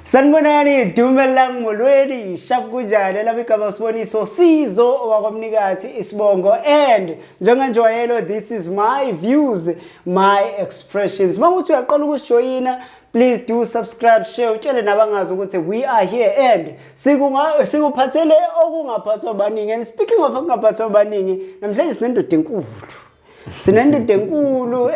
Sanibonani dumelang molweni shap kunjani lami igama siboniso sizo wakwamnikathi isibongo and njenganjwayelo this is my views my expressions manguthi uyaqala ukusijoyina please do subscribe share utshele nabangazi ukuthi we are here and sikuphathele okungaphathwa baningi and speaking of okungaphathwa baningi namhlanje sinendoda enkulu sinendoda enkulu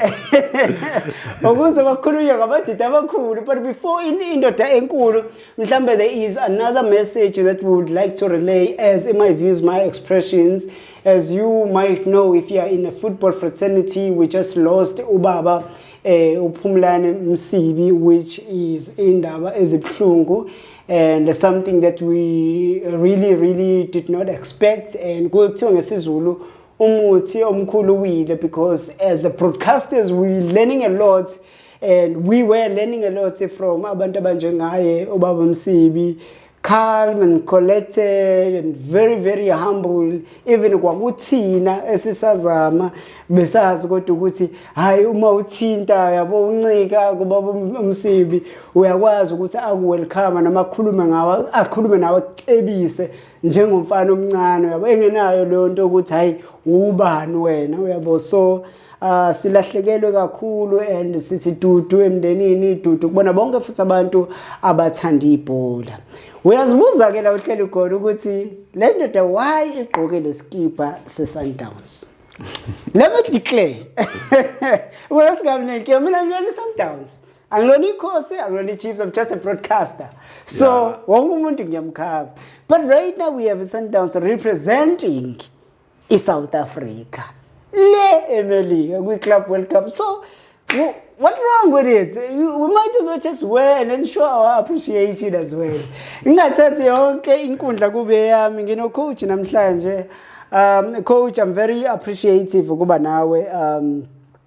ukuze bakhulunywe ngabadida abakhulu but before indoda enkulu mhlawumbe there is another message that we would like to relay as in my views my expressions as you might know if you are in a football fraternity we just lost ubaba eh uphumlane msibi which is indaba ezibuhlungu and something that we really really did not expect and kuthiwa ngesizulu umuthi omkhulu uwile because as the broadcasters we learning a lot and we were learning a lot from abantu abanjengaye ubaba msibi calm and collected and very very humble even kwakuthina esisazama besazi kodwa ukuthi hayi uma uthinta yabo uncika kuba umsibi uyakwazi ukuthi akuwelcome noma akhulume ngawe akhulume nawe cebise njengomfana omncane yabo engenayo leyo nto ukuthi hayi ubani wena uyabo so uh, silahlekelwe kakhulu and sisidudu emndenini idudu kubona bonke futhi abantu abathanda ibhola uyazibuza ke la uhleli khona ukuthi le ndoda why igqoke lesikibha sesundowns let me declare wesingamnenke mina ngiyona isundowns angilona ikhosi angilona ichiefs i'm just a broadcaster so yeah. wonke umuntu ngiyamkhava but right now we have sundowns representing i-south africa le emelika kwi-club world cup so what wrong with it we might as well just win and show our appreciation as well ngingathathi yonke inkundla kube yami nginocoach namhlanje um coach i'm very appreciative ukuba nawe um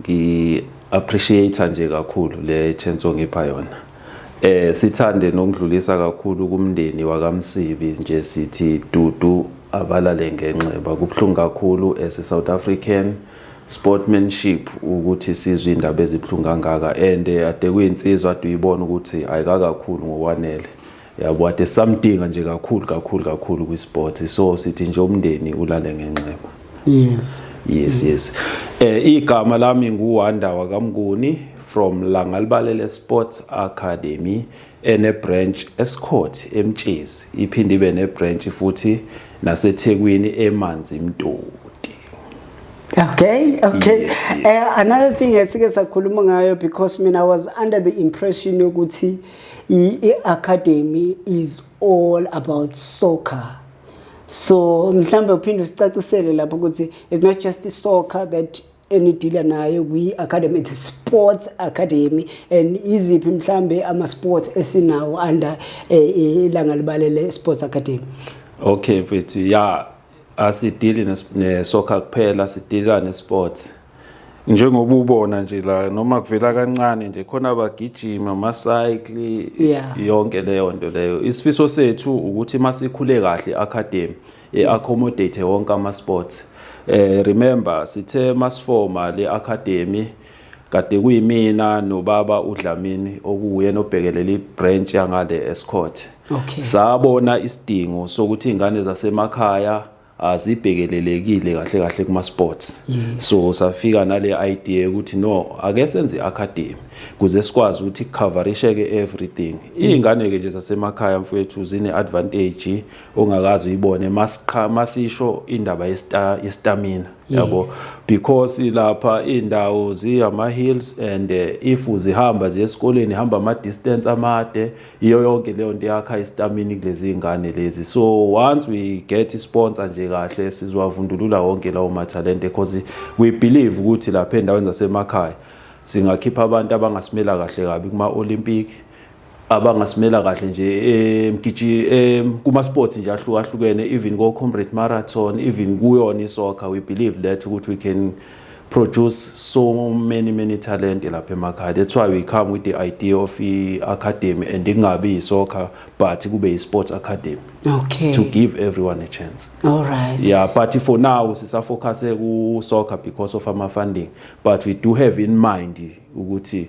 Ngi appreciate nje kakhulu le chance ongipha yona. Eh sithande nokudlulisa kakhulu kumndeni wakamsibi nje sithi dudu abalale ngenxeba kubhlungu kakhulu as a South African sportmanship ukuthi sizwe indaba ezibhlungu kangaka and ade kuyinsizwa ade uyibona ukuthi ayikakakhulu ngokwanele yabo ade samdinga nje kakhulu kakhulu kakhulu kwisport so sithi nje umndeni ulale ngenxeba yes yes yes eh igama lami nguwanda wakamnguni from langalibalele sports academy ene branch escourt emtshezi iphinde ibe ne branch futhi nasethekwini emanzi imtoni Okay, okay. Yes, yes. Uh, another thing esike sakhuluma ngayo because mina I was under the impression yokuthi i-academy is all about soccer so mhlawumbe uphinde usicacisele lapho ukuthi it's not just soccer that enidila nayo kwi-academy the sports academy and iziphi mhlambe ama-sports esinawo under eh, ilanga libalele sports academy okay mfethu ya asidili nesoccer kuphela sidila nesports njengoba ubona nje la noma kuvela kancane nje khona abagijima amacycle yeah. yonke leyo nto leyo isifiso sethu ukuthi masikhule kahle academy i-accommodate wonke ama-sports eh remember sithe masifoma le-academy kade kuyimina nobaba uDlamini okuwuye nobhekelela ibranch yangale eScourt okay sabona isidingo sokuthi ingane zasemakhaya azibhekelelekile kahle kahle kuma sports yes. so safika nale idea ukuthi no ake senze academy kuze sikwazi ukuthi coverishe ke everything mm. ingane ke nje zasemakhaya mfowethu zine advantage ongakazi uyibone masiqha masisho indaba yestamina yabo yes. because lapha indawo ziyama hills and eh, if uzihamba ziye esikoleni hamba ama distance amade iyo yonke leyo nto yakha istamina kulezi ingane lezi so once we get sponsor nje kahle sizwavundulula wonke lawo mathalente because we believe ukuthi lapha endaweni zasemakhaya singakhipha abantu abangasimela kahle kabi kuma Olympic abangasimela kahle nje emgiji kuma sports nje ahlukahlukene even ko comrade marathon even kuyona isoccer we believe that ukuthi we can produce so many many talent lapha emakhaya that's why we come with the idea of i academy and ingabi isoccer but kube i sports academy okay to give everyone a chance all right yeah but for now sisa focus ku soccer because of our funding but we do have in mind ukuthi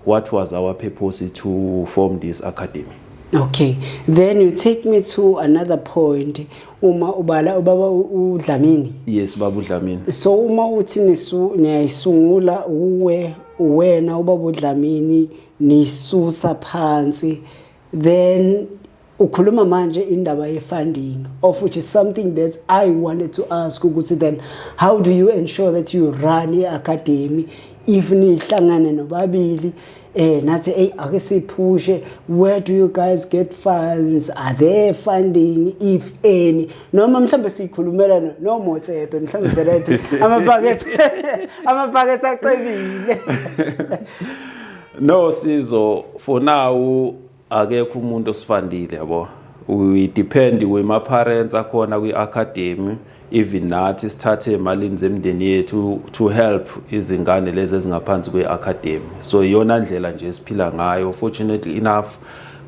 What was our purpose to form this academy? Okay, then you take me to another point uma ubala ubaba uDlamini. Yes, baba uDlamini. So uma uthi nisu niyayisungula uwe wena ubaba uDlamini nisusa phansi then ukhuluma manje indaba ye-funding of which is something that i wanted to ask ukuthi then how do you ensure that you run i-academy if nihlangane nobabili eh nathi hey ake siphushe where do you guys get funds are there funding if any noma mhlambe sikhulumela no motsepe mhlambe vela iphi ama packet ama packet aqebile no sizo for now akekho umuntu osifandile yabo we depend kwema parents akhona kwi academy even nathi sithathe emalini zemndeni yethu to help izingane lezi ezingaphansi kwe academy so iyona ndlela nje esiphila ngayo fortunately enough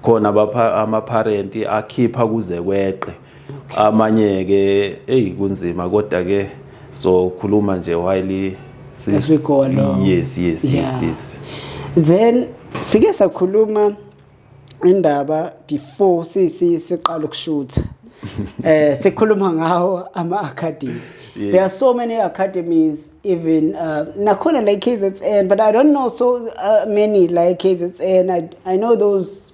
khona ama parent akhipha kuze kweqe okay. amanye ke eyi kunzima kodwa ke so khuluma nje while yes we go along yes yes yeah. yes yes then sike sakhuluma indaba before sisi siqala ukushutha eh sikhuluma ngawo ama academy yeah. there are so many academies even uh, nakhona like KZN but I don't know so uh, many like KZN I, I know those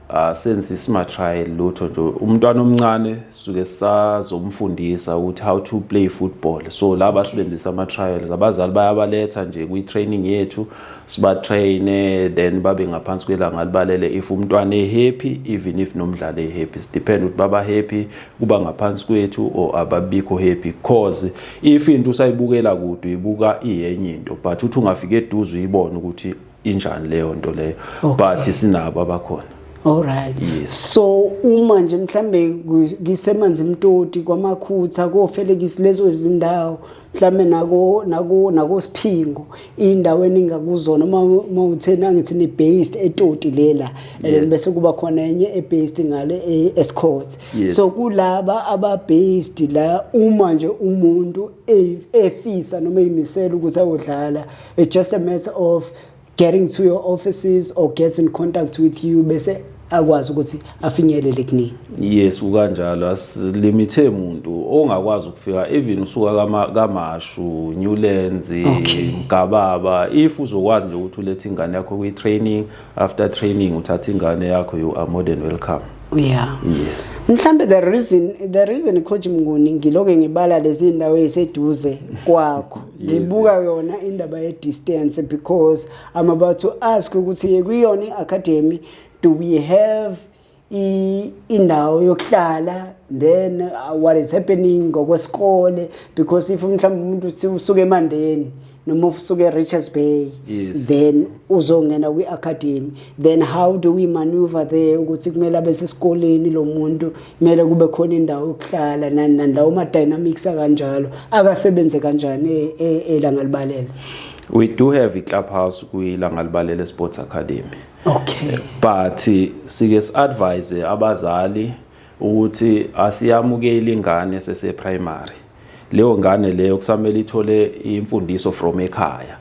asenze isma trial lutho nje umntwana omncane suke sazomfundisa ukuthi how to play football so laba sibenzisa ama trials abazali bayabaletha nje kwi training yethu siba train then babe ngaphansi kwelanga libalele if umntwana e happy even if nomdlali e happy it depend ukuthi baba happy kuba ngaphansi kwethu or ababikho happy cause if into usayibukela kude uyibuka iyenye into but uthi ungafika eduze uyibona ukuthi injani leyo nto leyo okay. but sinabo abakhona Alright. Yes. So uma nje mhlambe ngisemanzi mtoti kwamakhutha kofelekisi lezo izindawo mhlambe nako nako nako siphingo indawo eningakuzona uma mawuthena ngithi ni based etoti lela and bese kuba khona enye e based ngale e escort. So kulaba aba based la uma nje umuntu e, efisa noma imisela ukuthi ayodlala it's just a matter of getting to your offices or gets in contact with you bese akwazi ukuthi afinyelele kunini yes ukanjalo asilimithe umuntu ongakwazi ukufika even usuka kama kamashu newlands okay. mgababa if uzokwazi nje ukuthi ulethe ingane yakho kwi training after training uthatha ingane yakho you are more than welcome yeah yes mhlambe the reason the reason coach mnguni ngiloke ngibala lezi ndawo eziseduze kwakho ngibuka yona indaba ye distance because i'm about to ask ukuthi kuyona i academy do we have indawo yokuhlala then uh, what is happening ngokwesikole because if mhlawumbe umuntu uthi usuke emandeni noma usuke e-richards bay yes. then uzongena kwi-academy then how do we maneuver there ukuthi kumele abe sesikoleni lo muntu kumele kube khona indawo yokuhlala nani nani lawo ma-dynamics akanjalo akasebenze kanjani e, e, elangalibalela we do have i-club house kwilangalibalela sports academy okay but sike siadvise abazali ukuthi asiyamukeli ingane sese primary leyo ngane leyo kusamele ithole imfundiso from ekhaya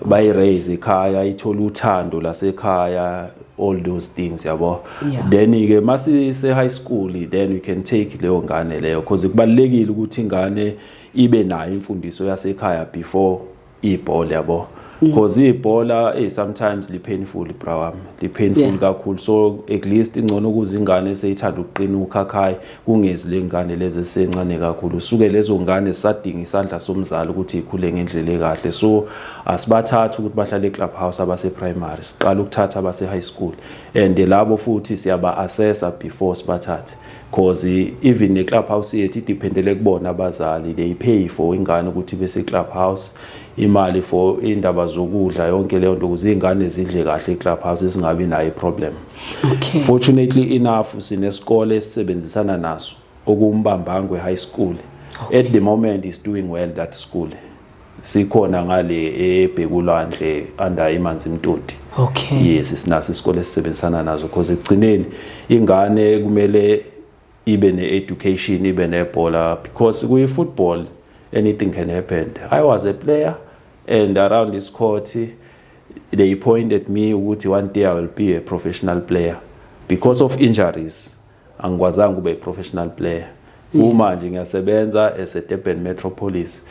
bayi raise ekhaya ithola uthando lasekhaya all those things yabo yeah. then ke masi se high school then we can take leyo ngane leyo because kubalekile ukuthi ingane ibe nayo imfundiso yasekhaya before ibhola yabo because mm. ibhola eh sometimes li painful bra wami li painful yeah. kakhulu so at least ingcono ukuze ingane seyithanda ukuqina ukhakhayi kungezi lengane lezi esencane kakhulu suke lezo ngane sadinga isandla somzali ukuthi ikhule ngendlela ekahle so asibathatha ukuthi bahlale club house abase primary siqala ukuthatha abase high school and labo futhi siyaba assessa before sibathathe cause even ne club house yethu idependele kubona abazali they pay for ingane ukuthi bese club house imali for indaba zokudla yonke leyo nto ukuze izingane zidle kahle club house singabi nayo problem okay fortunately enough sinesikole esisebenzisana naso okumbambangwe high school okay. at the moment is doing well that school sikhona ngale ebhekulwandle under imanzi mtoti okay yes sinaso isikole esisebenzisana nazo because ekugcineni ingane kumele ibe ne-education ibe nebhola because kuyi-football anything can happen i was a player and around this court they pointed me ukuthi one day i will be a professional player because of injuries angikwazanga kube i-professional player uma nje ngiyasebenza as a Durban Metropolis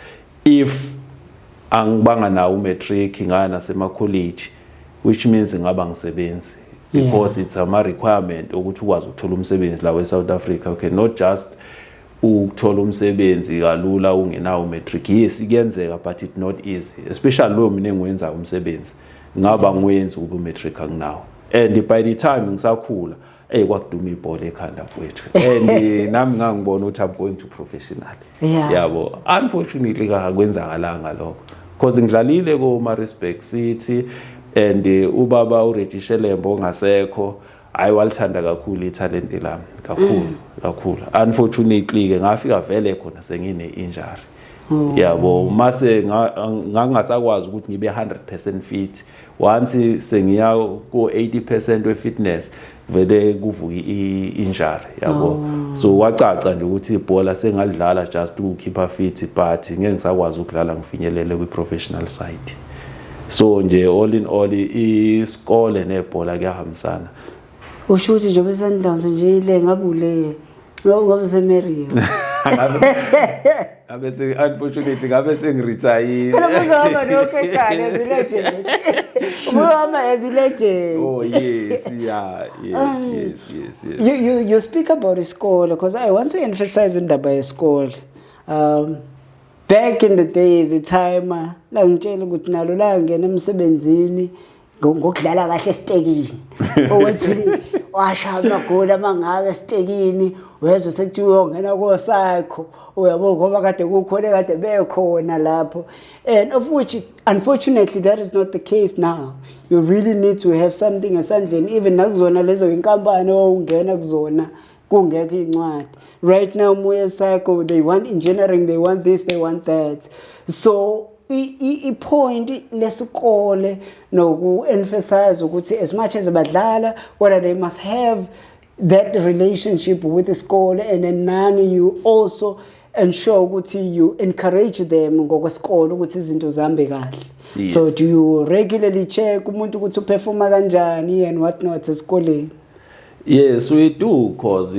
if angibanga nawo umatric ngaya nasemakholeji which means ngaba ngisebenzi because it's ama requirement ukuthi ukwazi ukuthola umsebenzi la weSouth Africa okay not just ukuthola umsebenzi kalula ungenawo matric yes ikuyenzeka but it not easy especially lo mina engiwenza umsebenzi ngaba ngiwenzi ube matric anginawo and by the time ngisakhula eyi kwakuduma ibhola ekhanda mfowethu and eh, nami ngangibona ukuthi i'm going to professional yeah. yabo unfortunately kakwenzakalanga lokho because ngidlalile ko-marisburg city and eh, ubaba ureggie shelembo ongasekho hayi walithanda kakhulu ithalente lami kakhulu mm. kakhulu unfortunately-ke ngafika vele khona sengine-injury mm. yabo mase ngangingasakwazi ukuthi ngibe 100 percent fit once sengiya ko 80% we fitness vele kuvuka injury yabo oh. so wacaca nje ukuthi ibhola sengalidlala just ukukhipha fit but ngeke ngisakwazi ukudlala ngifinyelele kwi professional side so nje all in all isikole nebhola kuyahambisana usho ukuthi njengoba isundowns nje ile ngabe uleye ngoba usemeriya ngabe se unfortunately ngabe sengiretire phela uzohamba nokekane as legend uzohamba as legend oh yes yeah yes um, yes yes yes you you you speak about isikole because i want to emphasize indaba yesikole um back in the days itime langitshela ukuthi nalo la ngena emsebenzini ngokudlala kahle esitekini ukuthi washa amagoli amangaka esitekini wezwe sekuthiwa uyongena kosakho uyabo ngoba kade kukhona kade bekhona lapho and of which unfortunately that is not the case now you really need to have something esandleni even nakuzona lezo inkampani owawungena kuzona kungekho iy'ncwadi right now moya cycle they want engineering they want this they want that so i-point lesikole noku-emphasize ukuthi as much as badlala kodwa they must have that relationship with isikole and then nani you also ensure ukuthi you encourage them ngokwesikole ukuthi izinto zihambe kahle yes. so do you regularly check umuntu ukuthi uperforma kanjani and what not esikoleni Yes, we do cause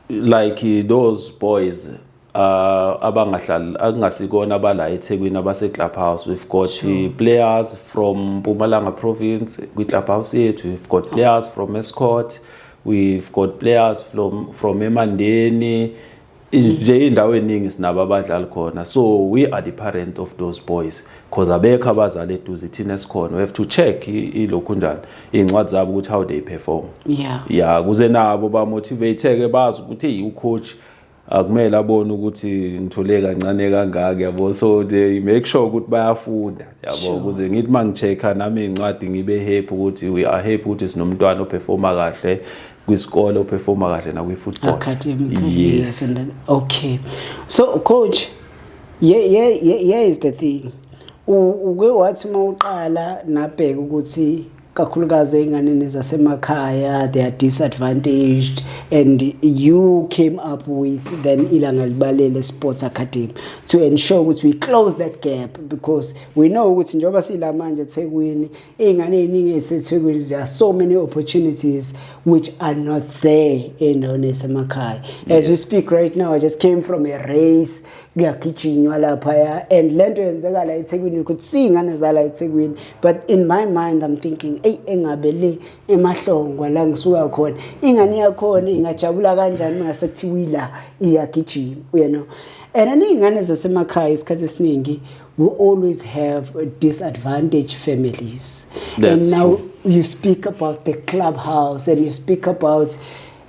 like those boys uh abangahlali akungasikona abala eThekwini abase Club House we've got sure. players from Mpumalanga province kwi Club House yethu we've got players from Escort we've got players from from Emandeni nje indawo eningi sinabo abadlali khona so we are the parent of those boys because abekho abazali eduze thina sikhona we have to check ilokhu njani iy'ncwadi zabo ukuthi how they perform yeah ya kuze nabo bamotivateke bazi ukuthi hey ucoach akumele abone ukuthi ngithole kancane kangaka yabo so they make sure ukuthi bayafunda yabo ukuze ngithi mangichecka nami incwadi ngibe happy ukuthi we are happy ukuthi sinomntwana operforma kahle kwisikole uperforma kahle nakwi-football academic yes. yes and then, okay so coach yeah, yeah, yeah, yeah is the thing uke wathi uma uqala nabheka ukuthi kakhulukazi ey'nganeni zasemakhaya they are disadvantaged and you came up with then ilanga libalele sports academy to ensure ukuthi we close that gap because we know ukuthi njengoba siyila manje ethekwini iy'ngane ey'ningi ey'sethekwini there are so many opportunities which are not there endaweni esemakhaya as we speak right now i just came from a race kuyagijinywa laphaya and le nto yenzeka la ethekwini ukuthi siyingane zala ethekwini but in my mind i'm thinking eyi engabe le emahlongwa la ngisuka khona ingane yakhona ingajabula kanjani mase kuthiwa ila iyagijima you know and aney'ngane zasemakhaya isikhathi esiningi we always have disadvantaged families. That's and now true. you speak about the clubhouse and you speak about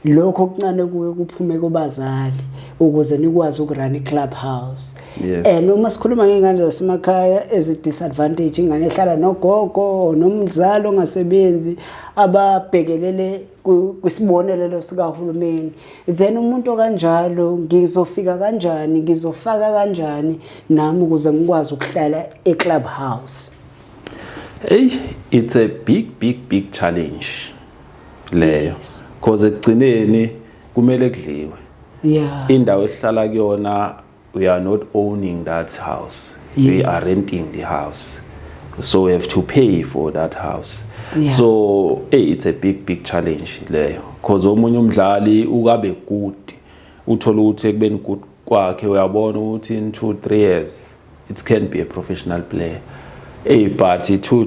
lokho okuncane kuye kuphume kubazali ukuze nikwazi ukurun iclubhouse yes. and eh, uma sikhuluma ngey'ngane zasemakhaya ezi-disadvantage ingane ehlala nogogo nomzali ongasebenzi ababhekelele kwisibonelelo sikahulumeni then umuntu okanjalo ngizofika kanjani ngizofaka kanjani nami ukuze ngikwazi ukuhlala eclub house hey it's a big big big challenge leyo because ekugcineni kumele kudliwe yeah indawo esihlala kuyona we are not owning that house yes. we are renting the house so we have to pay for that house yeah. so hey, it's a big big challenge leyo because omunye umdlali ukabe good uthola ukuthi ekubeni good kwakhe uyabona ukuthi in 2 3 years it can be a professional player hey but 2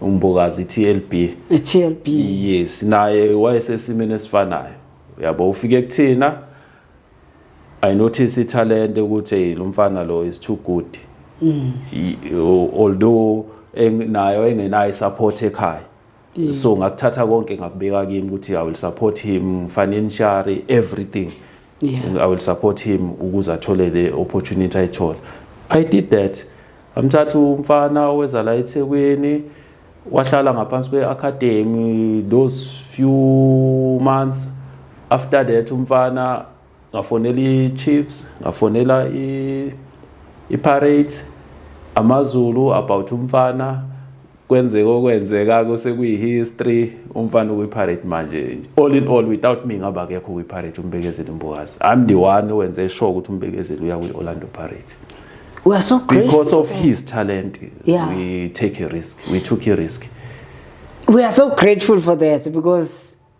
umbokazi iTLB iTLB yes naye wayesesimene esifanayo yabo ufike kuthina i notice ithalente ukuthi hey lo mfana lo is too good mm. although nayo engenayo support ekhaya mm. so ngakuthatha konke ngakubeka kimi ukuthi i will support him financially everything yeah. i will support him ukuze athole le opportunity ayithola i did that amthatha umfana oweza la ethekwini wahlala ngaphansi kwe-academy those few months after that umfana ngafonela i-chiefs ngafonela i-parate amazulu about umfana kwenzeka okwenzeka kuse kuyi-history umfana ukwi-pirate manje all in all without me ngaba kekho kwi-pirate umbekezeli mbokazi i'm the one owenze sure ukuthi umbekezeli uya kwi-orlando pirate we are so grateful because of his talent yeah. we take a risk we took a risk we are so grateful for that because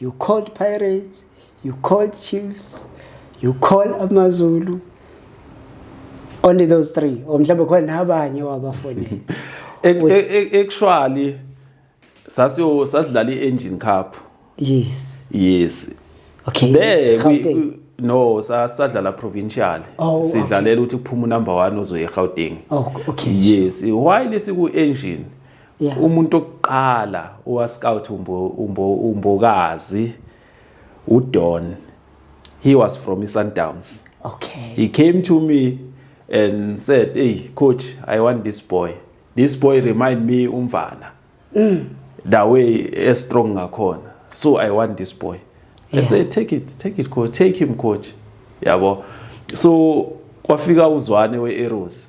You called Pirates, you called Chiefs, you call AmaZulu. Only those three. Or mhlawumbe khona nabanye wabafonela. Actually sasiyo sasidlala i-engine cup. Yes. Yes. Okay. There no sasadlala provincial oh, sidlalela ukuthi kuphume number 1 ozoya eGauteng oh, okay yes while siku engine yeah. umuntu okuqala owascout umbo umbo umbokazi udon he was from isundowns okay he came to me and said hey coach i want this boy this boy remind me umvana mm. the way a strong ngakhona so i want this boy yeah. i say take it take it coach take him coach yabo so kwafika uzwane we-arrows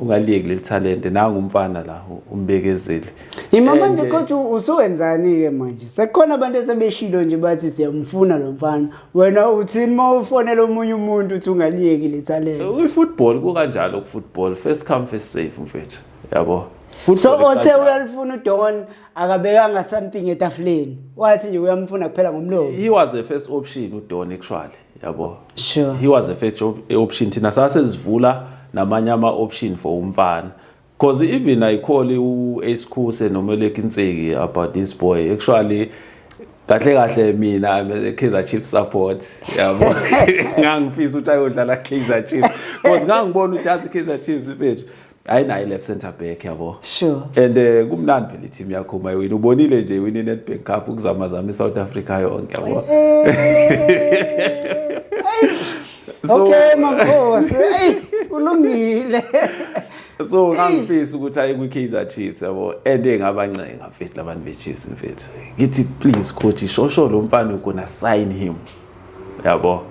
ungaliyeki leli talente nangu umfana la umbekezeli imama nje kodwa eh, usuwenzani-ke manje sekukhona abantu esebeshilo nje bathi siyamfuna lo mfana wena uthini uma ufonela omunye umuntu uthi ungaliyeki le talente eh, kwi-football kukanjalo ku-football first come first safe mfethu yabo so othe uyalifuna udon akabekanga something etafuleni wathi nje uyamfuna kuphela ngomlomo he was a first option udon actually yabo sure. he was a fact option thina sasezivula namanye ama option for umfana because even ayikholi u-ace khuse noma elekinseki about this boy actually kahle kahle mina I'm a Kaizer Chiefs support yabo ngangifisa ukuthi ayodlala Kaizer Chiefs because ngangibona ukuthi yazi Kaizer Chiefs mfethu ayinayo left center back yabo sure and uh, kumnandi phela team yakho uma iwina ubonile nje iwina iNetbank Cup ukuzama zama iSouth Africa yonke yabo so, okay makhosi hey ulungile so ngangifisa ukuthi ayi kwi-kaizer chiefs yabo and engabancenga mfethu labantu be-chiefs mfethu ngithi please coach shosho lo mfana ukona sign him yabo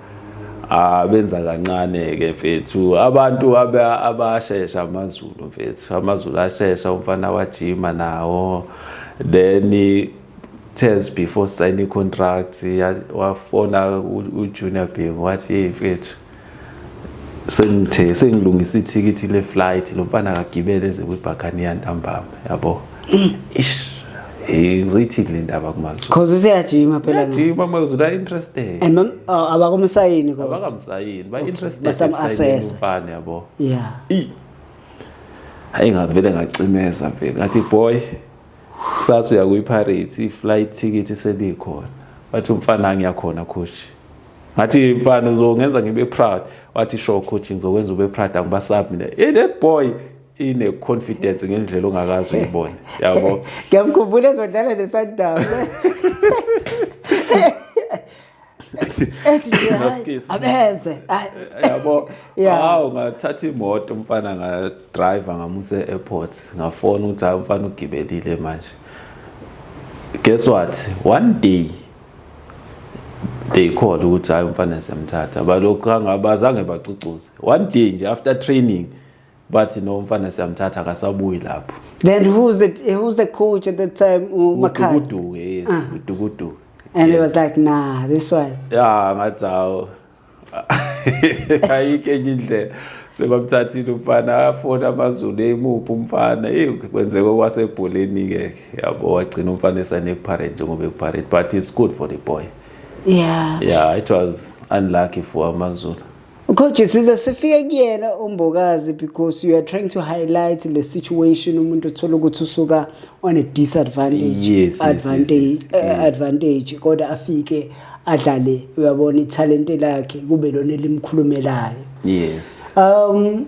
abenza kancane ke mfethu abantu abashesha amazulu mfethu amazulu ashesha umfana wajima nawo then test before signing contract wafona ujunior bing wathi hey mfethu sengithe sengilungisa ithikithi le flight lo mfana akagibele eze kwibhakaniya ntambama yabo mm. ish Eh ngizoyithini le ndaba kuMazulu. Cause useyajima phela la. Jima maZulu are interested. And mom oh, abakumsayini kodwa. Abakamsayini, ba interested. Basam assess. Mfana yabo. Yeah. I Hayi ngavele ngacimeza vele. Ngathi boy kusasa uya kwi-pirates i-flight ticket isebikhona wathi umfana ngiyakhona coach ngathi mfana uzongenza ngibe proud wathi sure coach ngizokwenza ube proud angibasab mina hey that boy ine confidence ngendlela ongakazi uyibone yabo ngiyamkhumbula ezodlala ne Sundowns ethi nje hayi abeze yabo awu ngathatha imoto umfana nga driver ngamusa e-airport ngafona ukuthi hayi umfana ugibelile manje guess what one day they call ukuthi hayi umfana semthatha balokhu angabazange bacucuze one day nje after training bathi no mfana siyamthatha akasabuyi lapho then who's the who's the coach at that time umakhaya udukudu yes ah. udukudu and it was like nah this one yeah ngathi awu ayike enye indlela sebamthathile umfana afona amazulu emuphi umfana eyi kwenzeka okwasebholeni-ke yabo wagcina umfana esanekuparent njengoba ekuparent but it's good for the boy yeah yeah it was unlucky for amazulu Coach size sifike kuyena umbokazi because you are trying to highlight the situation umuntu uthola ukuthi usuka on a disadvantage yes, advantage yes, yes, yes. Uh, advantage kodwa afike adlale uyabona ithalente lakhe kube lona elimkhulumelayo yes um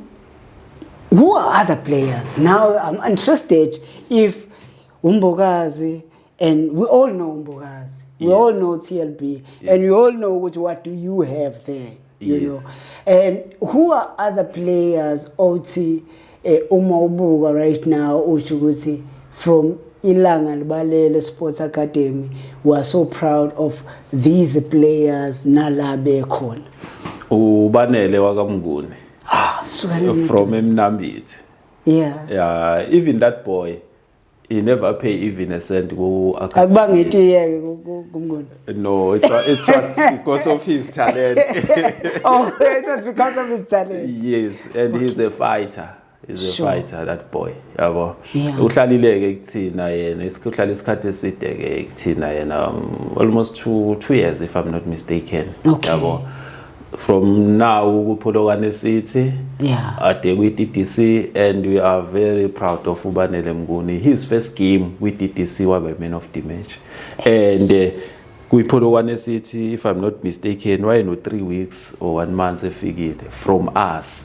who are other players now i'm interested if umbokazi and we all know mbokazi we yes. all know tlb yes. and we all know ukuthi what do you have there you yes. know and who are other players othi eh, uma ubuka right now usho ukuthi from ilanga libalele sports academy we are so proud of these players nala bekhona ubanele wakamnguni ah, from emnambithi yeah yeah even that boy he never pay even a cent ku akuba ngitiyeke kumnguni no it was, it was because of his talent oh it was because of his talent yes and okay. he's a fighter is a sure. fighter that boy yabo yeah. uhlalileke kuthina yena isikhulala isikhathi eside ke kuthina yena um, almost 2 2 years if i'm not mistaken okay. yabo from now kuPholokwane City yeah ade kwi DDC and we are very proud of uBanele Mnguni his first game with DDC wabe man of the match and uh, eh, kwiPholokwane City if i'm not mistaken wayeno 3 weeks or 1 month efikile from us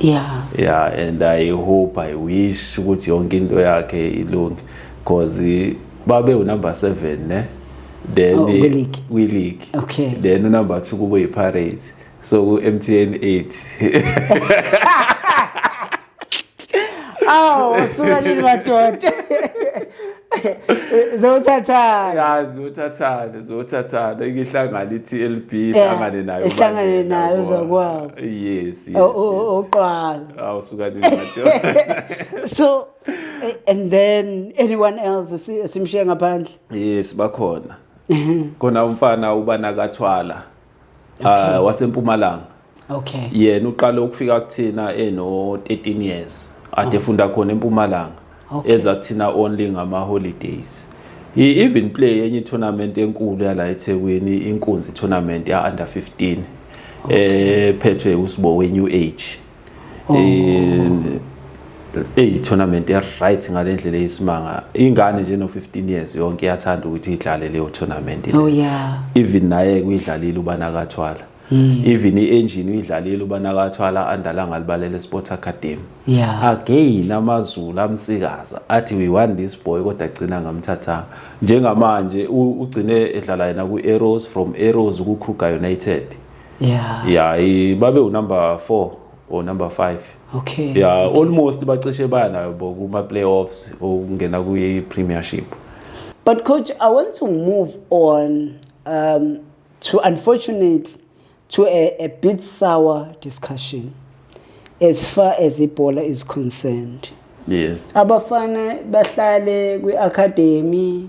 yeah yeah and i hope i wish ukuthi yonke into yakhe ilunge because babe unumber 7 ne then oh, we league okay then unumber 2 kube yipirates so ku MTN 8 awu suka nini madoda zothathana ya zothathana zothathana ikihlangana ithi LB ihlangane nayo ihlangane nayo zakwabo yes yes oqala awusuka ningathi so and then anyone else simshiye ngaphandle yes bakhona khona umfana ubana kathwala okay. uh, wasempumalanga okay yena uqale ukufika kuthina eno 13 years ade oh. funda khona empumalanga okay. eza kuthina only ngama holidays i-even play enye tournament enkulu yala eThekwini inkunzi tournament ya under 15 okay. eh phethwe usibo we new age oh. eh eyi tournament e right ngalendlela eyisimanga ingane nje no 15 years yonke iyathanda ukuthi idlale leyo tournament oh yeah even naye kuyidlalile ubanakathwala yes. even i-engine uyidlalile ubanakathwala andala ngalibalele sports academy yeah. again amazulu amsikaza athi we want this boy kodwa agcina ngamthathanga njengamanje ugcine edlala yena ku-arrows from arrows ku-kruger united yeah yeah i- babe unumber 4 or number 5 okay yeah almost bacishe banayo bo kuma playoffs ukungena kwi premiership But coach, I want to move on um, to unfortunately to a, a bit sour discussion as far as Ebola is concerned. yes Abafana bahlale kwi-academy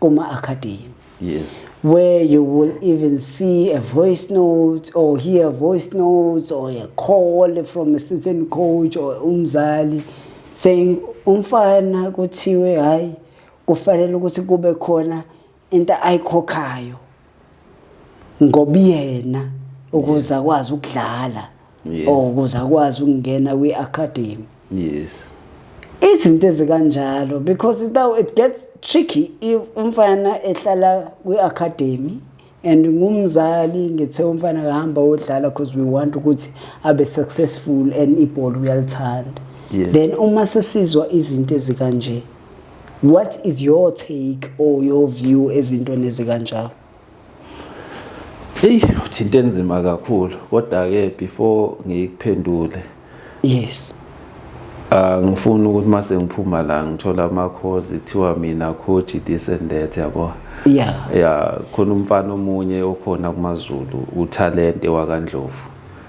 kuma academy yes where you will even see a voice note or hear a voice note or a call from a certain coach or umzali saying umfana kuthiwe hayi kufanele ukuthi kube khona into ayikhokhayo ngobuyena ukuze akwazi ukudlala or ukuze akwazi ukungena kwi-academy yes izinto ezikanjalo because now it gets tricky if umfana ehlala kwi-academy and ngumzali ngithe umfana kahamba wodlala because we want ukuthi abe successful and ibhola uyalithanda then uma sesizwa izinto ezikanje what is your take or your view ezintweni ezikanjalo eyi uthi into enzima kakhulu kodwa-ke before ngiyikuphendule yes Ah, ngifuna ukuthi mase ngiphuma la ngithola ama course kuthiwa mina coach this and that yabo yeah yeah khona umfana omunye okhona kumaZulu utalente wakandlovu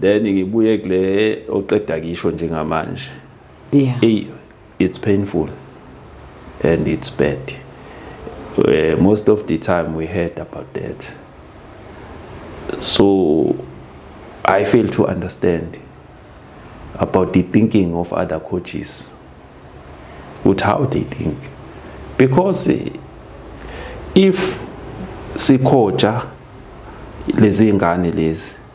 then ngibuye kule oqeda kisho njengamanje yeah hey it's painful and it's bad uh, most of the time we heard about that so i fail to understand about the thinking of other coaches with how they think because eh, if sikhoja lezi ngane lezi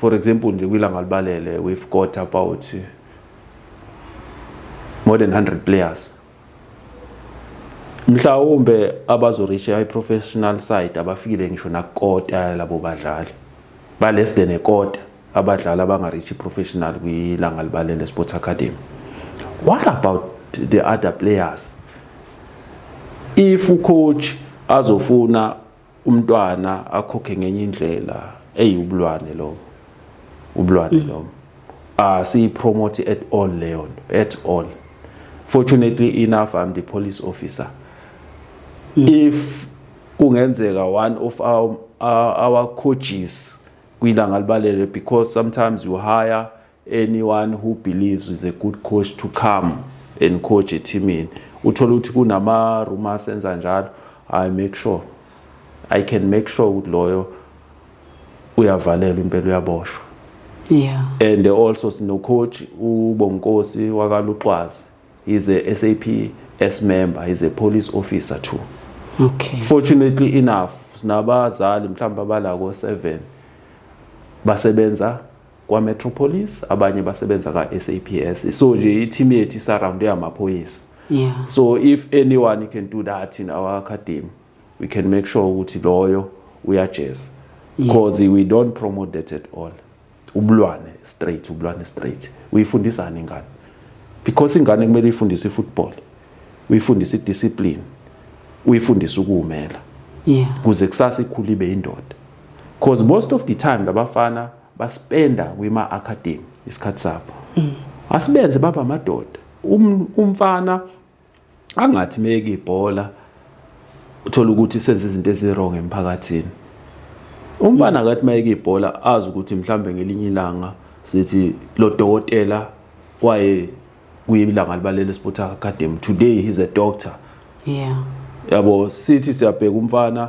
for example nje kwilanga libalele we've got about more than 100 players mhlawumbe abazoreacha i-professional side abafikile ngisho nakukota yalabo badlali ba-less than ekota abadlali abangareachi i-professional kwilanga libalele sports academy what about the other players if ucoach azofuna umntwana akhokhe ngenye indlela eyiwubulwane lo ubulwane mm. lo asiyipromote ah, at all leyo nto at all fortunately enough i'm the police officer mm. if kungenzeka one of our, our, our coaches kwilanga libalele because sometimes you hire anyone who believes is a good coach to come and coach ethimini uthole ukuthi kunama rumors enza njalo i make sure i can make sure ukuthi loyo uyavalelwa impela uyaboshwa yeah and also sino coach ubonkosi wakaluxwazi is a SAPS member is a police officer too okay fortunately enough sinabazali mhlawumbe abalako 7 basebenza kwaMetropolis abanye basebenza ka-SAPS so nje i-team yethu isaround eyamaphoyisa yeah. so if anyone can do that in our academy we can make sure ukuthi loyo uyajeza because yeah. we don't promote that at all ubulwane straight ubulwane straight uyifundisani ingane because ingane kumele ifundise ifootball uyifundise idiscipline uyifundise ukuwumela yeah. kuze kusasa ikhule ibe indoda Cause most of the time labafana baspenda kwima academy isikhathi sabo. Mm. Asibenze baba madoda. Um, umfana angathi meke ibhola uthola ukuthi senze izinto ezirong emphakathini. Umfana akathi mayeke ibhola azi ukuthi mhlambe ngelinye ilanga sithi lo dokotela kwaye kuyilanga libalele sport academy today he's a doctor. Yeah. Yabo sithi siyabheka umfana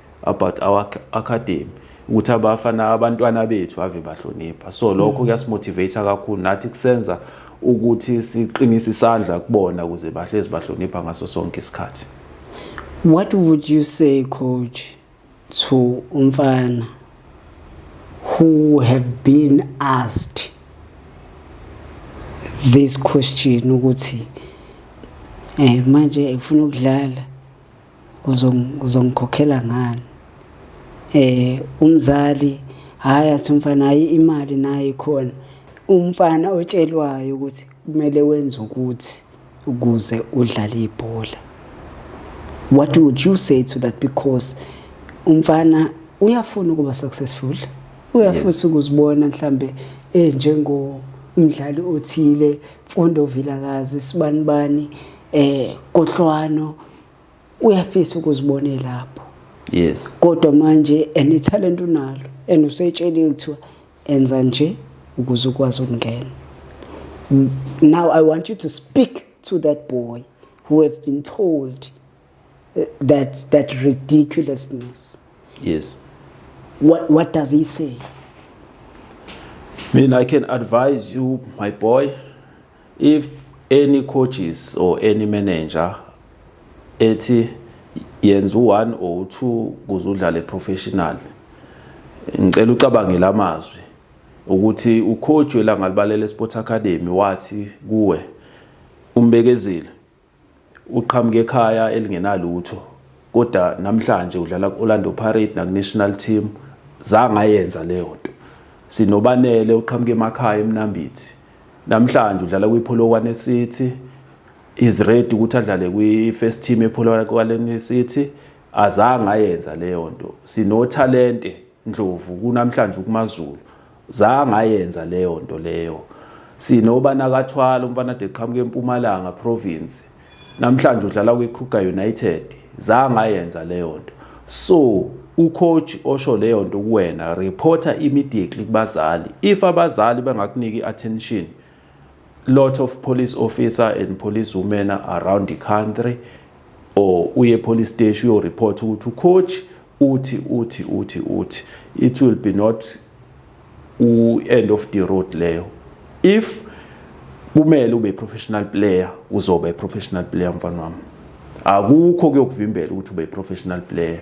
about our academy ukuthi abafana abantwana bethu ave bahlonipha so lokho mm. kuyasimotivate kakhulu nathi kusenza ukuthi siqinise isandla kubona ukuze bahlezi bahlonipha ngaso sonke isikhathi what would you say coach to umfana who have been asked this question ukuthi eh manje ufuna ukudlala uzongikhokhela ngani eh umzali hayi athi umfana hayi imali nayo ikhona umfana otshelwayo ukuthi kumele wenze ukuthi ukuze udlale ibhola what would you say to that because umfana uyafuna ukuba successful uyafusa ukuzibona mhlambe enjengo umdlali othile Mfondo Vilakazi sibanibani eh Kohlwano uyafisa ukuzibona elapho yes kodwa manje ene talent unalo and usetsheliwe kuthiwa enza nje ukuze ukwazi ukungena now i want you to speak to that boy who have been told uh, that that ridiculousness yes what what does he say I mean i can advise you my boy if any coaches or any manager ethi yenza u-1 or u-2 kuze udlale professional ngicela ucabangele amazwi ukuthi ucoach welangalibalele sports academy wathi kuwe umbekezile Uqhamuke ekhaya elingenalutho kodwa namhlanje udlala ku-Orlando Pirates naku-national team zange ayenza leyo nto sinobanele uqhamuke emakhaya emnambithi namhlanje udlala kwiPolokwane City is ready ukuthi adlale kwi-first team ePolokwane City azange ayenza leyo nto sinothalente Ndlovu kunamhlanje ukumaZulu zangayenza leyo nto leyo sinobana kathwala umfana de qhamuke empumalanga province namhlanje udlala kwiKruger United zangayenza leyo nto so ucoach osho leyo nto kuwena reporter immediately kubazali if abazali bengakuniki attention lot of police officer and police women around the country or uye police station uyo report ukuthi ucoach uthi uthi uthi uthi it will be not u-end of the road leyo if kumele ube professional player uzoba i-professional player mfana wami akukho kuyokuvimbela ukuthi ube i-professional player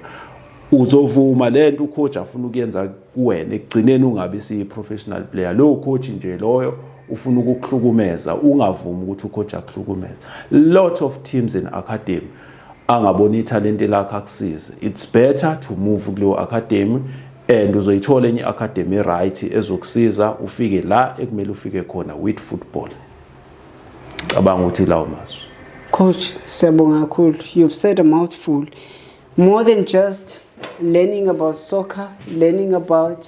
uzovuma le nto ucoach afuna ukuyenza kuwena ekugcineni ungabi siyi-professional player lowo coach nje loyo ufuna ukukuhlukumeza ungavumi ukuthi ucoach akuhlukumeza lot of teams in academy angabona ithalente lakhe akusize it's better to move kuleyo academy and uzoyithola enye academy right ezokusiza ufike la ekumele ufike khona with football cabanga ukuthi lawo mazwi coach siyabonga kakhulu you've said a mouthful more than just learning about soccer learning about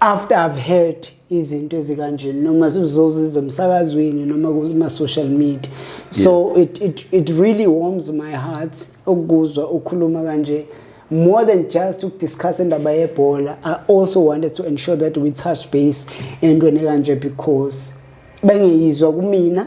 after i've heard izinto ezikanjeni noma uzozizwa emsakazweni noma kuma-social media so yeah. it, it, it really warms my heart ukuzwa ukhuluma kanje more than just ukudiscuss indaba yebhola i also wanted to ensure that we touch base entweni ekanje because bengeyizwa kumina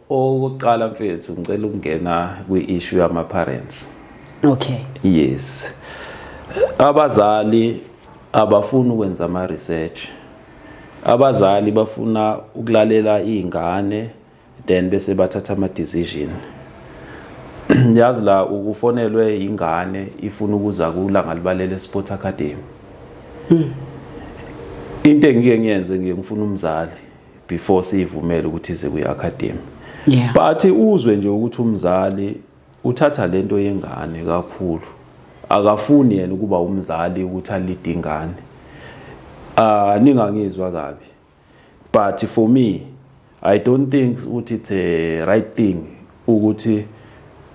Okokuqala mfethu ngicela ukungena kwi-issue yama-parents. Okay. Yes. Abazali abafuni ukwenza ama-research. Abazali bafuna ukulalela iy'ngane then bese bathatha ama-decision. Yazi la ukufonelwe ingane ifuna ukuza kulanga libalele Sport Academy. Hmm. Into engike ngiyenze ngiyengifuna umzali. before siyivumele ukuthi ize kwi-academy yeah. but uzwe nje ukuthi umzali uthatha le nto yengane kakhulu akafuni yena ukuba umzali ukuthi alide ingane uh, ningangizwa kabi but for me i don't think ukuthi it's a right thing ukuthi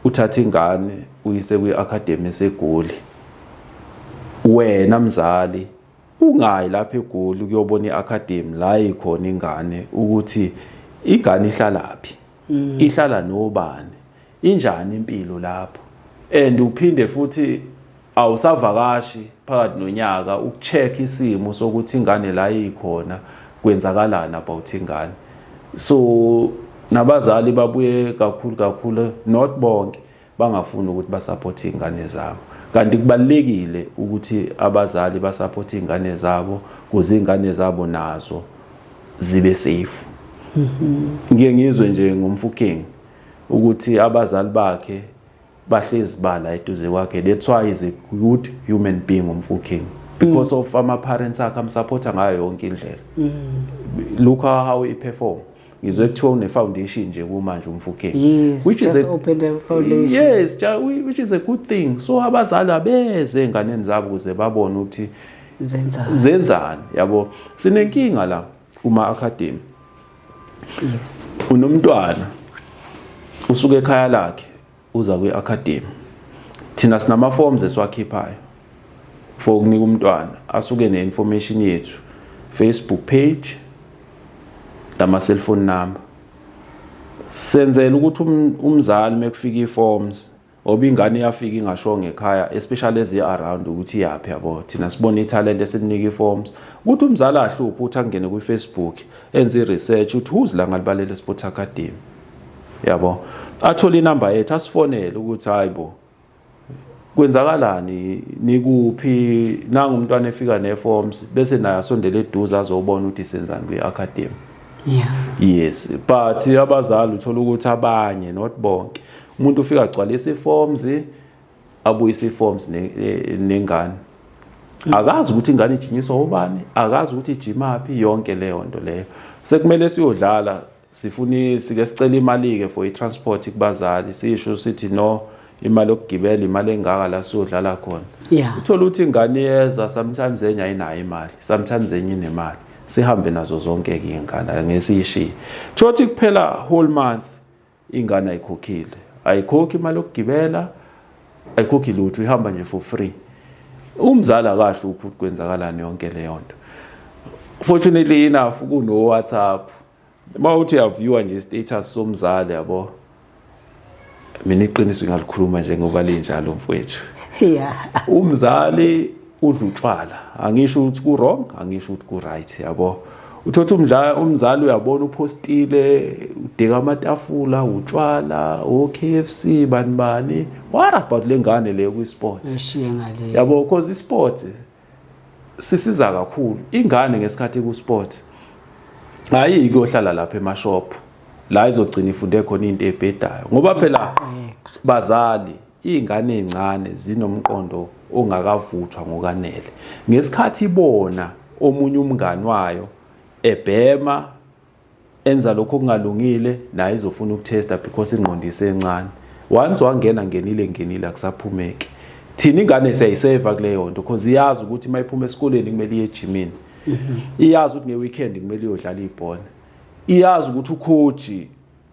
uthathe ingane uyise kwi-academy segoli wena mzali ungayi lapha egoli kuyobona i-academy la ikhona ingane ukuthi ingane ihlalaphi mm. ihlala nobani injani impilo lapho and uphinde futhi awusavakashi phakathi nonyaka ukucheck isimo sokuthi ingane la ikhona kwenzakalani about ingane so nabazali babuye kakhulu kakhulu not bonke bangafuni ukuthi basaphothe iy'ngane zabo kanti kubalulekile ukuthi abazali basaphothe iy'ngane zabo kuze iy'ngane zabo nazo zibe safe mm-hmm. ngiye ngizwe nje ngomfuking ukuthi abazali bakhe bahlezi bala eduze kwakhe that's why is a good human being umfuking because mm. of ama parents akhe amsupporta ngayo yonke indlela mm. look how he perform ngizwe kuthiwa une foundation nje kumanje umfukeni yes, which just is a, opened a foundation yes which is a good thing so abazali abeze enganeni zabo kuze babone ukuthi zenzani zenzani yabo sinenkinga la kuma academy yes unomntwana usuke ekhaya lakhe uza kwi-academy thina sinama-forms esiwakhiphayo for ukunika umntwana asuke ne-information yethu facebook page nama-cellphone number senzela ukuthi um-, umzali uma kufika ii-forms oba ingane iyafika ingashongo ekhaya especially ezi-around ukuthi iyaphi yabo thina sibona ithalente esimnika ii-forms ukuthi umzali ahluphe ukuthi angene kwifacebook enze i-research ukuthi who's la ngalibalele sports academy yabo athole inamba yethu asifonele ukuthi hayi bo kwenzakalani nikuphi nangu umntwana efika neforms bese naye asondele eduze azobona ukuthi senzani kwi-academy yeah. yes but abazali uthola ukuthi abanye not bonke umuntu ufika agcwalisa iforms abuyise iforms nengane mm. akazi ukuthi ingane ijinyiswa ubani akazi ukuthi ijimaphi yonke leyo nto leyo sekumele siyodlala sifuni sike sicela imali-ke for i-transport kubazali sisho sithi no imali yokugibela imali engaka la siyodlala khona yeah. uthole ukuthi ingane iyeza sometimes enye ayinayo imali sometimes enye inemali sihambe nazo zonke-ke iy'ngane ngesiyishiye kusho ukuthi kuphela whole month ingane ayikhokhile ayikhokhi imali yokugibela ayikhokhi lutho ihamba nje for free umzali akahle ukuthi kwenzakalani yonke leyo nto fortunately enough kuno-whatsapp uma uthi uyaviewa nje istatus somzali yabo mina iqiniso ngalikhuluma njengoba linjalo mfowethu yeah umzali udla utshwala angisho ukuthi ku wrong angisho ukuthi ku right yabo uthotha umdlala umzali uyabona uphostile udeka amatafula utshwala oKFC bani bani what about lengane leyo kwi sport yabo cause i sport sisiza kakhulu ingane ngesikhathi ku sport hayi kuyohlala lapha emashop la izogcina ifunde khona into ebhedayo ngoba phela bazali izingane ezincane zinomqondo ongakavuthwa ngokanele ngesikhathi ibona omunye umngani wayo ebhema enza lokho kungalungile naye izofuna ukutesta because ingqondo isencane once wangena ngenile ngenile akusaphumeki thina ingane siyayiseva kuleyo nto because iyazi ukuthi uma iphuma esikoleni kumele iye ejimini mhm. iyazi ukuthi ngeweekend kumele iyodlala ibhola iyazi ukuthi ukhoji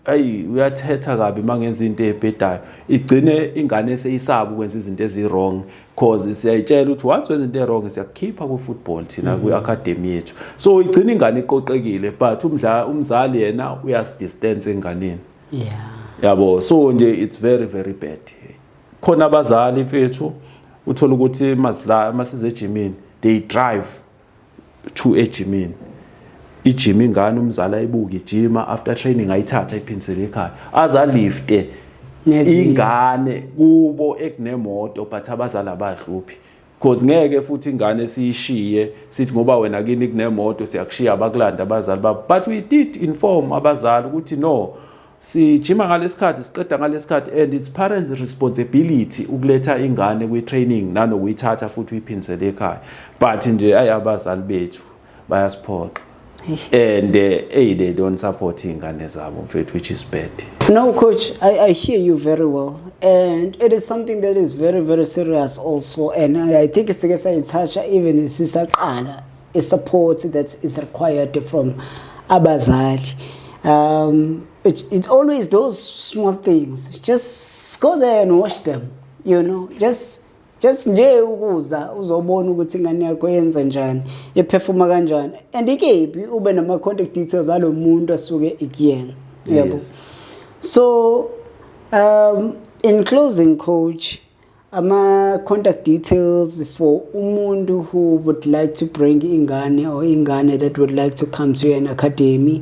ayi uyathetha kabi mangenza into ebhedayo igcine ingane eseyisaba ukwenza izinto eziwrong cause siyayitshela ukuthi once wenza into ewrong siyakukhipha ku-football thina mm-hmm. kwi-academy yethu so igcina ingane iqoqekile but umdla umzali yena uyasidistance enganeni yeah yabo so nje it's very very bad khona abazali mfethu uthola ukuthi mazila masize ejimini they drive two ejimini ijima ingane umzali ayibuke ijima after training ayithatha ayiphindisele ekhaya azalifte ingane kubo ekunemoto but abazali abahluphi because ngeke futhi ingane siyishiye sithi ngoba wena kini kunemoto siyakushiya abakulanda abazali babo but we did inform abazali ukuthi no sijima ngalesikhathi siqeda ngalesikhathi and it's parents responsibility ukuletha ingane kwi training nanokuyithatha futhi uyiphindisele ekhaya but nje ayi abazali bethu bayasiphoxa and eh, hey they don't support ingane zabo mfethu which is bad no coach I, i hear you very well and it is something that is very very serious also and i, I think sike sayithatha even sisaqala a support that is required from abazali um, it's, it's always those small things just go there and watch them you know just just nje ukuza uzobona ukuthi ingane yakho yenza njani ephefuma kanjani and ikephi ube nama contact details alo muntu asuke ekuyena uyabo yes. so um in closing coach ama-contact details for umuntu who would like to bring ingane or ingane that would like to come to an academy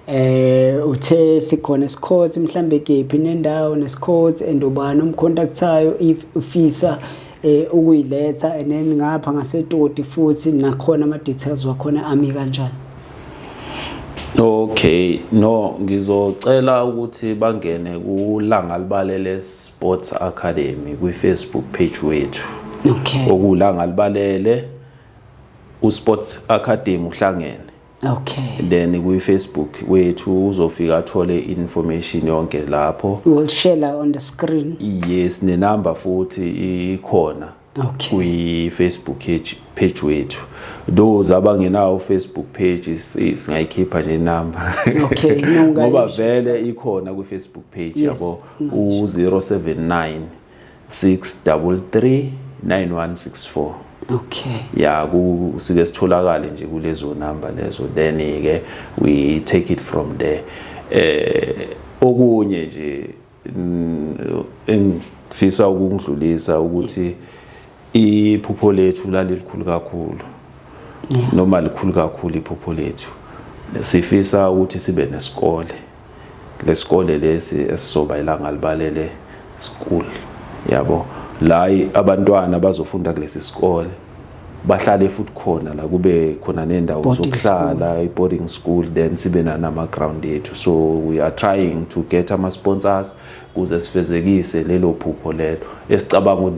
eh uthe sikhona isikhothi mhlambe kephi nendawo nesikhothi and ubani umcontactayo if ufisa eh ukuyiletha and then ngapha ngasetoti futhi nakhona ama details wakhona ami kanjani Okay no ngizocela ukuthi bangene kulanga libalele Sports Academy kwi-Facebook page wethu okay. okula ngalibalele uSports Academy uhlangene okay then kwi-Facebook wethu uzofika athole information yonke lapho we'll share on the screen yes nenamba futhi ikhona okay. kwi-facebook page, page wethu those abangenawo facebook page singayikhipha nje inamba okay, ngoba vele ikhona kwi-facebook page yabo yes, u-079 633 9164 okay ya kusike sitholakale nje kulezo number lezo then ke we take it from there eh okunye nje engifisa ukungidlulisa ukuthi iphupho lethu lalilikhulu kakhulu noma likhulu kakhulu iphupho lethu sifisa ukuthi sibe nesikole lesikole lesi esizoba ilanga libalele school yabo la abantwana bazofunda kulesi sikole bahlale futhi khona la kube khona nendawo zokuhlala i-boarding school then sibe nanama-ground ethu so we are trying to get ama-sponsors kuze sifezekise lelo phupho lelo esicabanga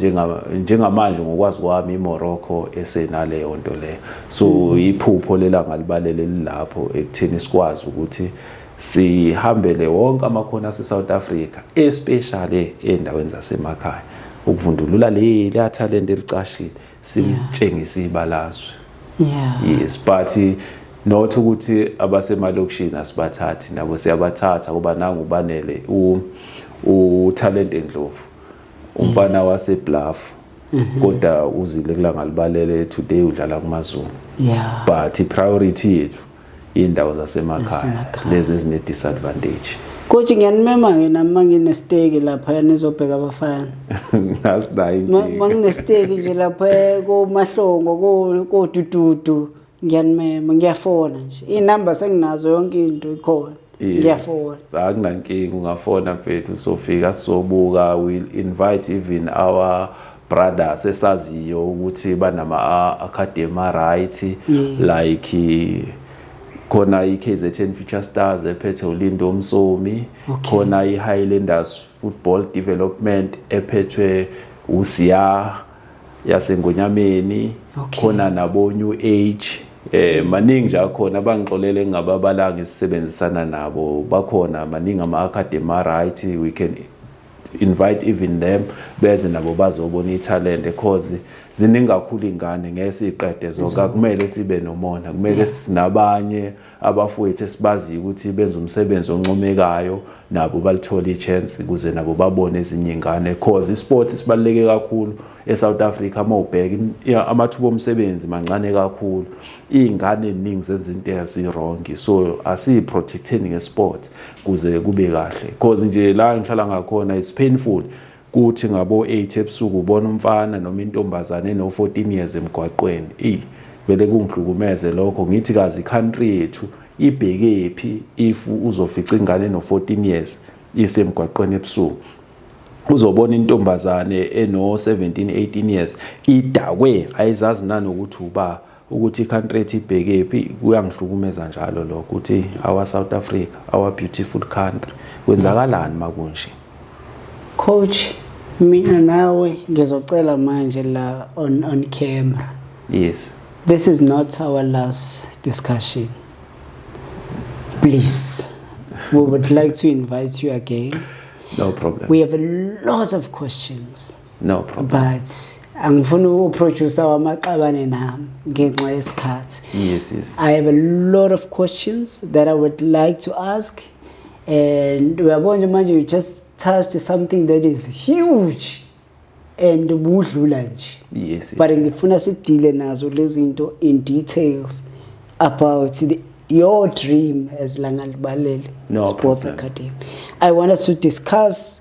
njengamanje ngokwazi kwami imorocco esenaleyo nto leyo so mm. iphupho lelanga libalele lilapho ekutheni sikwazi ukuthi sihambele wonke amakhono ase-south africa especially ey'ndaweni zasemakhaya ukuvundulula le leya talent elicashile silitshengise ibalazwe yeah. yes but not ukuthi abasemalokishini asibathathi nabo siyabathatha kuba nangu ubanele utalent endlovu umfana yes. wasebluff mhm. kodwa uzile kulanga libalele today udlala kumazulu yeah. but i-priority yethu iy'ndawo zasemakhaya lezi ezine-disadvantage Coach ngiyanimema ke nami manginesteki lapha nizobheka abafana. Ngasinayi nje. Manginesteki nje lapha eh, komahlongo ko kodududu ngiyanimema ngiyafona nje. Inamba senginazo yonke into ikhona. Ngiyafona. Akunankinga ungafona mfethu sofika sobuka will invite even our brother sesaziyo ukuthi banama academy right yes. like khona iKZN Future Stars ephethe uLindo Msomi okay. khona iHighlanders Football Development ephethwe uSiya yasengonyameni okay. khona nabo New Age eh maningi nje akhona abangixolele ngababalanga isisebenzisana nabo bakhona maningi ama academy right we can invite even them beze nabo bazobona ithalente cause ziningi kakhulu ingane ngeke siqede zonke akumele sibe nomona kumele sinabanye abafowethu esibaziyo ukuthi benza umsebenzi oncomekayo nabo balithola ichance ukuze nabo babone ezinye ingane cause isport sibaluleke kakhulu eSouth Africa uma ubheka amathuba omsebenzi mancane kakhulu izingane eziningi zenza into ezirong so asiyi protecting ngesport kuze kube kahle because nje la ngihlala ngakhona is painful kuthi ngabo 8 ebusuku ubona umfana noma intombazane no 14 years emgwaqweni ey vele kungihlukumeze lokho ngithi kazi country yethu ibheke phi if uzofica ingane no 14 years isemgwaqweni ebusuku uzobona intombazane eno 17 18 years idakwe ayizazi nanokuthi uba ukuthi i-country ethi ibhekephi kuyangihlukumeza njalo lokho ukuthi our south africa our beautiful country kwenzakalani makunje coach mina nawe ngizocela manje la on on camera yes this is not our last discussion please we would like to invite you again no problem we have a lot of questions no problem but angifuni uproducer wamaxabane nami ngenxa yesikhathi yes yes i have a lot of questions that i would like to ask and uyabona manje you just touched something that is huge and ubudlula nje yes but ngifuna sidile nazo lezinto in details about the your dream as Langal Balele no Sports problem. Academy. I want us to discuss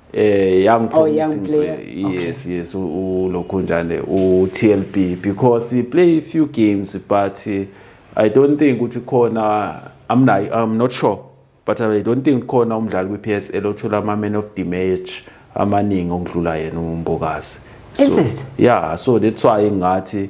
eh young oh, young player yes okay. yes ulokhu njane u TLB because he play a few games but eh, i don't think ukuthi khona i'm not i'm not sure but i don't think khona umdlali kwi PSL othola ama man of the match amaningi okudlula yena umbokazi so, is it yeah so that's why ngathi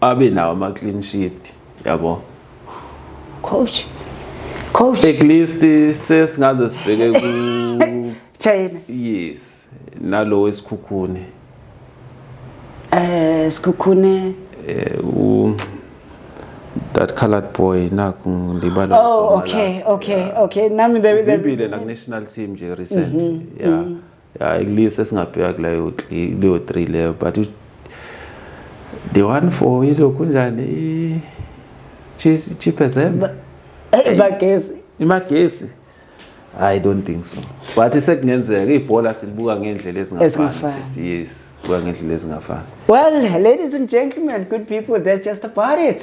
abe nawo ama clean sheet yabo coach coach at least sesingaze sibheke ku China yes nalo wesikhukhune eh sikhukhune eh u that colored boy naku ndibala oh okay okay okay nami the the national team nje recently mm-hmm, yeah mm-hmm. ya ikulisa esingabheka kuleyo leyo 3 leyo but the one for ilokhu njani chipezembe hey bagesi imagesi i don't think so but sekungenzeka ibhola silibuka ngendlela ezingafani yes kuba ngendlela ezingafani well ladies and gentlemen good people that's just about it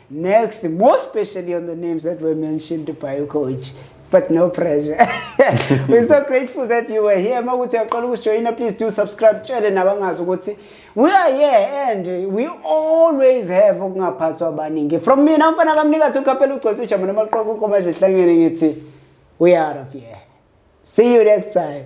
Next, more especially on the names that were mentioned by you, coach. But no pressure. We're so grateful that you were here. Makuthi uyaqala ukusijoyina, please do subscribe. Tshele nabangazi ukuthi we are here and we always have ukungaphathwa abaningi. From me, namfana kamnika to kapela ugcwesa ujama namaqoqo ukoma nje hlangene ngithi we are out of here. See you next time.